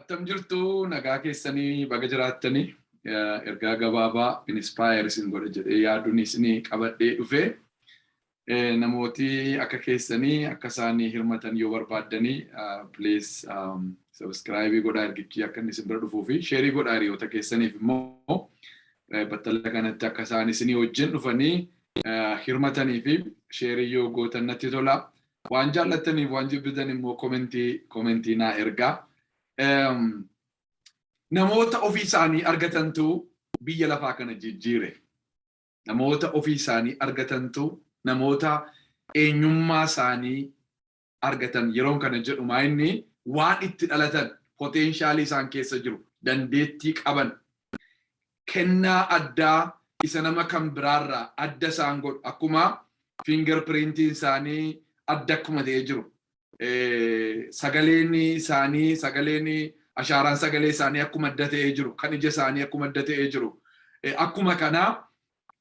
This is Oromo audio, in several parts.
Attam jirtu nagaa keessanii baga jiraattanii ergaa gabaabaa inspire isin godha jedhee yaaduun isin qabadhee dhufee namooti akka keessanii akka isaan hirmatan yoo barbaaddanii please subscribe godhaa ergichi akka inni isin bira dhufuu fi sheerii godhaa hiriyoota keessaniif immoo battala kanatti akka isaan isinii wajjin dhufanii hirmatanii fi sheerii yoo gootan natti tola. Waan jaallattaniif waan jibbitan immoo komentii komentii naa ergaa. Namoota ofii isaanii argatantu biyya lafaa kana jijjiire. Namoota ofii isaanii argatantu namoota eenyummaa isaanii argatan yeroon kana jedhu maayinni waan itti dhalatan, poteenshaalii isaan keessa jiru, dandeettii qaban, kennaa addaa isa nama kan biraarraa adda isaan godhu akkuma finger printiin isaanii adda akkuma ta'ee jiru, sagaleen isaanii, sagaleen ashaaraan sagalee isaanii akkuma adda ta'ee jiru, kan ija isaanii akkuma adda ta'ee jiru, akkuma kana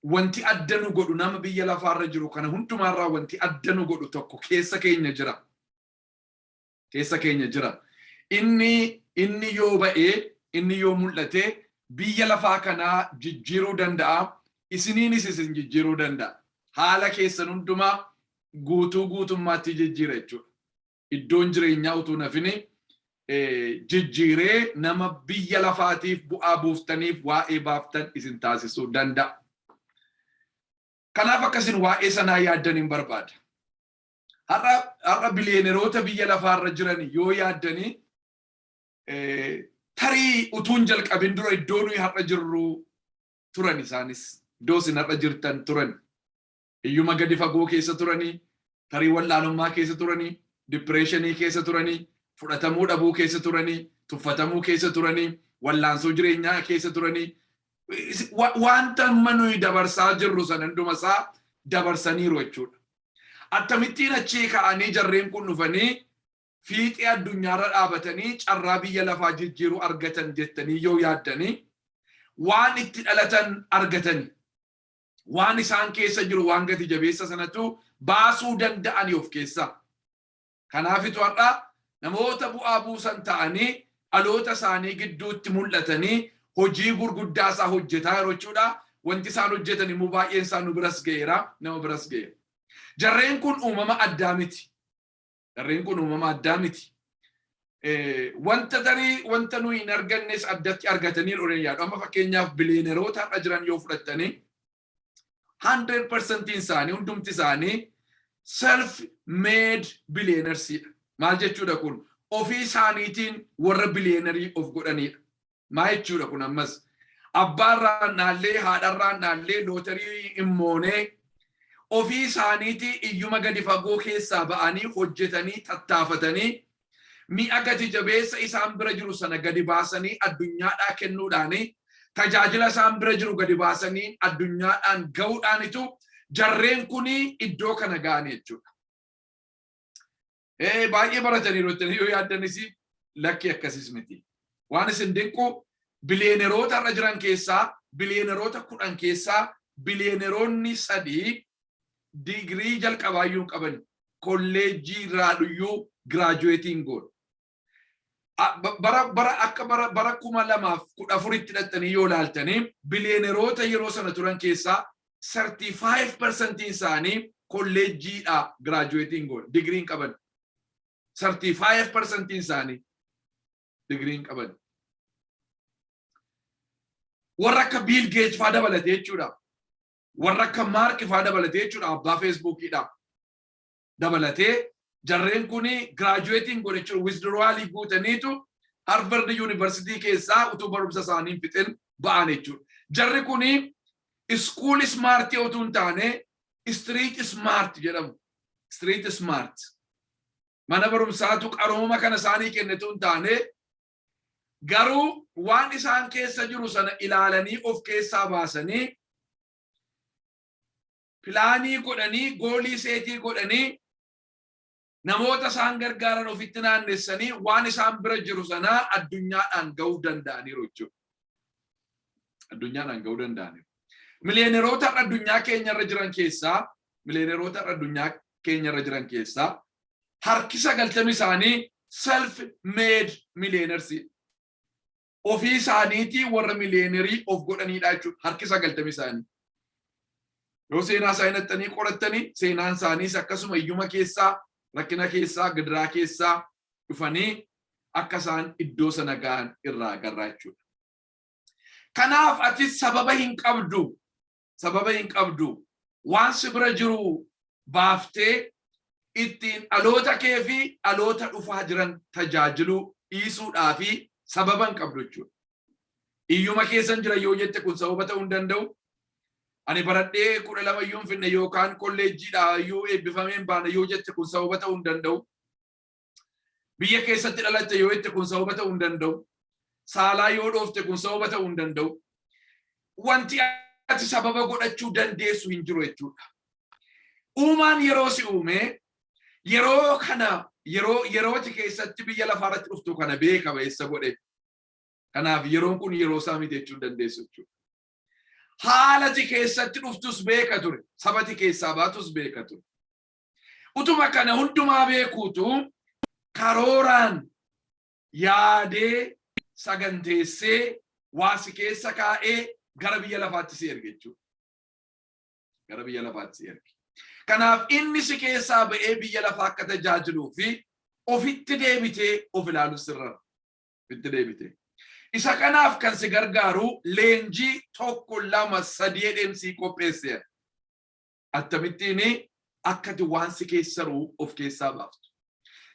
Wanti adda nu godhu nama biyya lafaa irra jiru kana hundumaa irraa wanti adda nu godhu tokko keessa keenya jira. Keessa keenya jira. Inni inni yoo ba'e, inni yoo mul'ate biyya lafaa kanaa jijjiiruu danda'a, isiniinis isin jijjiiruu danda'a. Haala keessan hundumaa guutuu guutummaatti jijjiira jechuudha. iddoon jireenyaa utuu hin hafini jijjiiree nama biyya lafaatiif bu'aa buuftaniif waa'ee baaftan isin taasisuu danda'a. Kanaaf akkasin waa'ee sanaa yaaddan hin barbaada. Har'a biliyeeneroota biyya lafaarra jiran yoo yaaddanii tarii utuun jalqabin dura iddoo nuyi har'a jirru turan isaanis. Iddoo isin har'a jirtan turan. Hiyyuma gadi fagoo keessa turanii, tarii wallaalummaa keessa turanii, dippireeshinii keessa turanii, fudhatamuu dhabuu keessa turanii, tuffatamuu keessa turanii, wallaansoo jireenyaa keessa turanii, wanta amma nuyi dabarsaa jirru sana hunduma isaa dabarsaniiru jechuudha. Attamittiin achii ka'anii jarreen kun dhufanii fiixee addunyaarra dhaabatanii carraa biyya lafaa jijjiiruu argatan jettanii yoo yaaddanii waan itti dhalatan argatanii waan isaan keessa jiru waan gati jabeessa sanatu baasuu danda'ani of keessaa. Kanaafitu har'a namoota bu'aa buusan ta'anii dhaloota isaanii gidduutti mul'atanii hojii gurguddaa isaa hojjetaa yeroo jechuudha. Wanti isaan hojjetan immoo baay'een isaa nu biras ga'eera, nama biras ga'eera. Jarreen kun uumama addaa miti. Jarreen kun uumama addaa miti. Wanta tarii wanta nuyi hin argannes addatti argatanii dhoreen yaadu. Amma fakkeenyaaf biliyeeneroota har'a jiran yoo fudhattanii 100% isaanii hundumti isaanii self made billionaires dha. Maal jechuudha kun? Ofii isaaniitiin warra billionaire of godhanidha. Maa jechuudha kun ammas abbaarraan dhaallee haadharraan dhaallee lootarii hin moonee ofii isaaniitii iyyuma gadi fagoo keessaa ba'anii hojjetanii tattaafatanii mi'a gati jabeessa isaan bira jiru sana gadi baasanii addunyaadhaa kennuudhaanii tajaajila isaan bira jiru gadi baasanii addunyaadhaan ga'uudhaanitu jarreen kun iddoo kana ga'an jechuudha. Ee baay'ee barataniiru jettanii yoo yaaddanis lakkii akkasis miti. Waan isin dinqu biliyeeneroota har'a jiran keessaa biliyeeneroota kudhan keessaa biliyeeneroonni sadii digirii jalqabaayyuu hin qabani. Kolleejjii irraayyuu giraajuweetii hin goone. bara bara akka bara bara kuma lamaaf kudha afuritti dhaqxanii yoo ilaaltanii biliyeeneroota yeroo sana turan keessaa 35% isaanii kolleejjiidhaa giraajuweetiin goon digiriin qaban 35% isaanii digiriin qaban warra akka biil geej faa dabalate jechuudha warra akka maark faa dabalate jechuudha abbaa feesbuukiidha dabalatee jarreen kun giraajuweetiin godhe jechuun wisdiruwaalii guutaniitu Harvard Yuunivarsiitii keessaa utuu barumsa isaanii hin fixin ba'an jechuudha. Jarri kun iskuul ismaartii utuu hin taane istiriit ismaart jedhamu. Istiriit ismaart. Mana barumsaatu qarooma kana isaanii kenne utuu hin taane garuu waan isaan keessa jiru sana ilaalanii of keessaa baasanii pilaanii godhanii goolii seetii godhanii namoota isaan gargaaran ofitti naannessanii waan isaan bira jiru sanaa addunyaadhaan ga'uu danda'aniiru jechuudha. Addunyaadhaan ga'uu danda'aniiru. Miliyeeneroota har'a addunyaa keenyarra jiran keessaa miliyeeneroota har'a addunyaa keenyarra jiran keessaa harki sagaltami isaanii self made millionaires. ofii isaaniitii warra miliyeenerii of godhaniidha jechuudha harki sagaltami isaanii. Yoo seenaa isaa hinattanii qorattanii seenaan isaaniis akkasuma iyyuma keessaa rakkina keessaa gidiraa keessaa dhufanii akka isaan iddoo sana gahan irraa agarraa jechuudha. Kanaaf ati sababa hin qabdu sababa hin qabdu waan si bira jiru baaftee ittiin dhaloota kee fi dhaloota dhufaa jiran tajaajiluu dhiisuudhaa fi sababa hin qabdu jechuudha. Iyyuma keessan jira yoo jette kun sababa ta'uu hin danda'u. Ani baradhee kudha lama iyyuu hin finne yookaan kolleejjiidha iyyuu eebbifamee hin baane yoo jette kun sababa ta'uu hin danda'u. Biyya keessatti dhalatte yoo jette kun sababa ta'uu hin danda'u. Saalaa yoo dhoofte kun sababa ta'uu hin danda'u. Wanti ati sababa godhachuu dandeessu hin jiru jechuudha. Uumaan yeroo si uume yeroo kana yeroo yerooti keessatti biyya lafaa irratti dhuftu kana beeka ba'eessa godhe. Kanaaf yeroon kun yeroo isaa miti jechuu dandeessu jechuudha. Haalati keessatti dhuftus beeka ture. Sabati keessaa baatus beeka ture. Utuma kana hundumaa beekuutu karooraan yaadee saganteessee waa si keessa kaa'ee gara biyya lafaatti si erge jechuudha. Gara biyya lafaatti si erge. Kanaaf inni si keessaa ba'ee biyya lafaa akka tajaajiluu fi ofitti deebitee of ilaalu sirra. Ofitti deebitee. Isa kanaaf kan si gargaaru leenjii tokko lama sadii dheemsii qopheesseera. Attamittiin akka ati waan si keessa jiru of keessaa baaftu.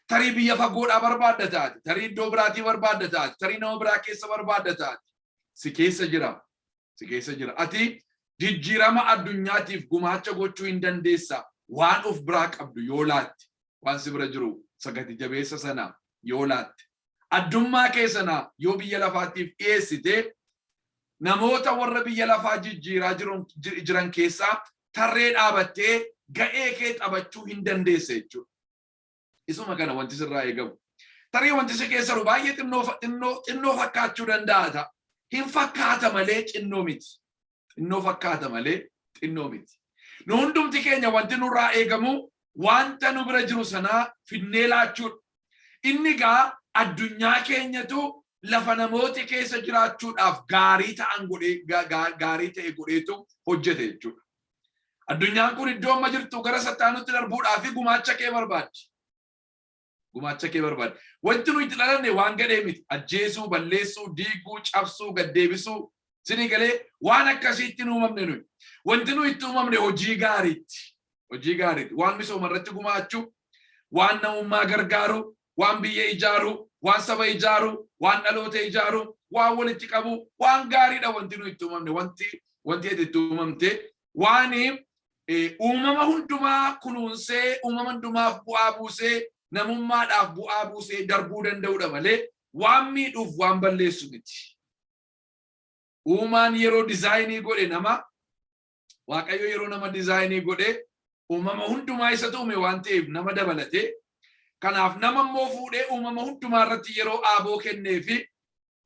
Tarii biyya fagoodhaa barbaadda taate, tarii iddoo biraatii barbaadda taate, tarii nama biraa keessa barbaadda taate. Si keessa jira, si keessa jira. Ati jijjiirama addunyaatiif gumaacha gochuu hin dandeessa waan of biraa qabdu yoo laatte, waan si bira jiru sagati jabeessa sana yoo laatte. Addummaa kee sana yoo biyya lafaatiif dhiyeessite, namoota warra biyya lafaa jijjiiraa jiran keessaa tarree dhaabattee ga'ee kee taphachuu hin dandeessa jechuudha. Isuma kana wanti sirraa eegamu. Tarii wanti si keessa jiru baay'ee xinnoo fakkaachuu danda'a ta'a. Hin fakkaata malee xinnoo miti. Xinnoo fakkaata malee xinnoo miti. Nu hundumti keenya wanti nurraa eegamu wanta nu bira jiru sanaa fidnee laachuudha. Inni egaa addunyaa keenyatu lafa namooti keessa jiraachuudhaaf gaarii ta'an godhee gaarii ta'e godheetu hojjete jechuudha. Addunyaan kun iddoo amma jirtu gara sattaanutti darbuudhaaf gumaacha kee barbaaddi. gumaacha kee barbaada. Wanti nuyi itti dhalanne waan gadhee miti. Ajjeesuu, balleessuu, diiguu, cabsuu, gad deebisuu. Sinii galee waan akkasiitti nu uumamne nuyi. Wanti nuyi itti uumamne hojii gaariitti. Hojii gaariitti. Waan misooma irratti gumaachuu, waan namummaa gargaaruu, waan biyya ijaaruu, waan saba ijaaruu, waan dhaloota ijaaruu, waan walitti qabuu, waan gaariidha wanti nuyi itti uumamne. Wanti wanti ati itti uumamte Waan uumama hundumaa kunuunsee uumama hundumaaf bu'aa buusee namummaadhaaf bu'aa buusee darbuu danda'udha malee waan miidhuuf waan balleessu miti. Uumaan yeroo dizaayinii godhe nama Waaqayyo yeroo nama dizaayinii godhe uumama hundumaa isatu uume waan ta'eef nama dabalate. Kanaaf nama immoo fuudhee uumama hundumaa irratti yeroo aaboo kennee fi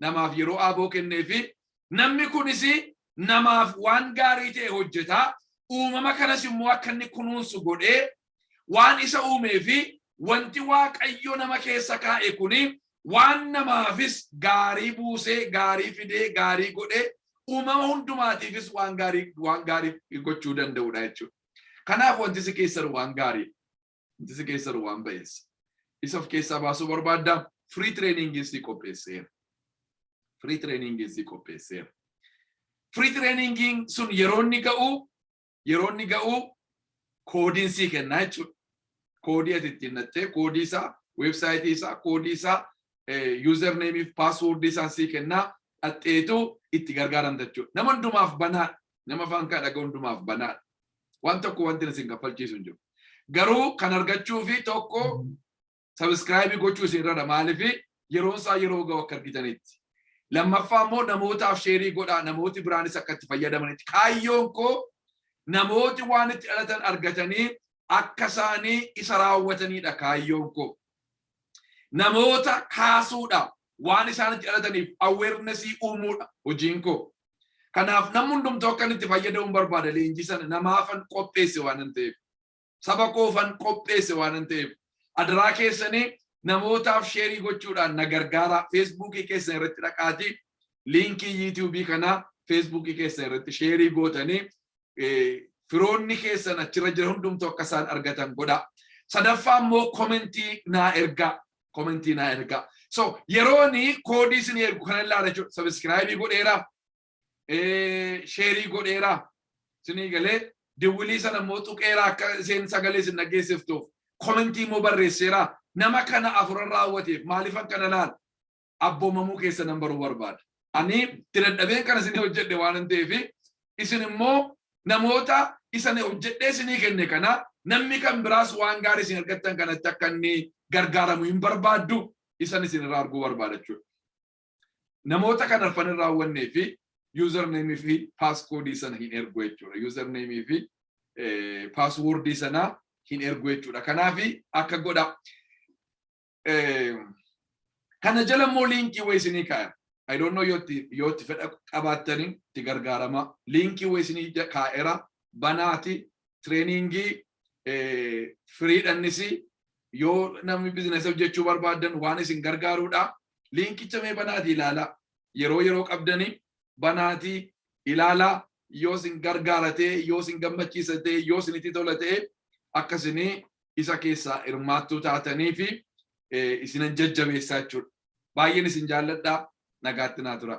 namaaf yeroo aaboo kenneefi namni kunis namaaf waan gaarii ta'e hojjeta uumama kanas immoo akka inni kunuunsu godhee waan isa uumee fi wanti waaqayyo nama keessa kaa'e kun waan namaafis gaarii buusee gaarii fidee gaarii godhee uumama hundumaatiifis waan gaarii waan gaarii gochuu danda'udha jechuudha. Kanaaf wanti si keessan waan gaarii. Wanti si keessa jiru waan ba'eessa. Isa of keessaa baasuu barbaadda. Free training si qopheesseera. Free training si qopheesseera. Free training sun yeroo inni ga'u yeroo inni ga'u koodiin sii kennaa jechuudha. Koodii ati ittiin nattee koodii isaa weebsaayitii isaa koodii isaa username fi password isaa sii kennaa dhatteetu itti gargaaramta jechuudha. Nama hundumaaf banaadha. Nama afaan kaa dhaga hundumaaf banaadha. Waan tokko wanti isin kaffalchiisu hin jiru. Garuu kan argachuu fi tokko sabiskiraayibii gochuu isin irra maaliif yeroon isaa yeroo ga'u akka argitanitti. Lammaffaa immoo namootaaf sheerii godhaa namooti biraanis akka itti fayyadamanitti. Kaayyoon koo namooti waan itti dhalatan argatanii akka isaanii isa raawwatanidha kaayyoon koo. Namoota kaasuudha. waan isaan itti dhalataniif awareness uumuudha hojiin koo. Kanaaf namni hundumtuu akkan itti fayyadamuun barbaada leenjii sana namaafan qopheesse waanan ta'eef. Saba koofan qopheesse waanan ta'eef. Adaraa keessanii namootaaf sheerii gochuudhaan na gargaara feesbuukii keessan irratti dhaqaatii liinkii yuutuubii kanaa feesbuukii keessan irratti sheerii gootanii firoonni keessan achirra jira hundumtu akka isaan argatan godha. Sadaffaa immoo komentii naa ergaa. komentii naa ergaa. So yerooni koodii isin ergu kana ilaala jechuudha. Sabiskiraayibii godheera, sheerii godheera, isinii galee diwwilii sana immoo tuqeera akka isheen sagalee isin dhaggeessiftuuf komentii immoo barreesseera. Nama kana afuran raawwateef maaliifan kana ilaala? Abboomamuu keessa nan baruu barbaada. Ani itti dadhabeen kana isin hojjedhe waan ta'eef isin immoo namoota isa ani hojjedhee isinii kenne kana namni kan biraas waan gaarii isin argattan kanatti akka inni gargaaramu hin barbaaddu isan isin irraa arguu barbaada jechuudha. Namoota kan arfan irraa hawwannee fi username fi passcode sana hin ergu jechuudha. Username fi password sana hin ergu jechuudha. Kanaaf akka godha. kana jala immoo liinkii wayii isinii kaa'e. I don't know yoo itti fedha qabaattanii itti gargaaramaa. Liinkii wayii isinii kaa'eera banaati tireeningii firiidhannis yoo namni bizinasa hojjechuu barbaadan waan isin gargaaruudha. Liinkicha mee banaati ilaalaa. Yeroo yeroo qabdanii banaati ilaalaa yoo isin gargaaratee yoo isin gammachiisatee yoo isinitti tola ta'e akka isinii isa keessaa hirmaattuu taatanii fi isinan jajjabeessaa jechuudha. Baay'een isin jaalladha nagaatti naa tura.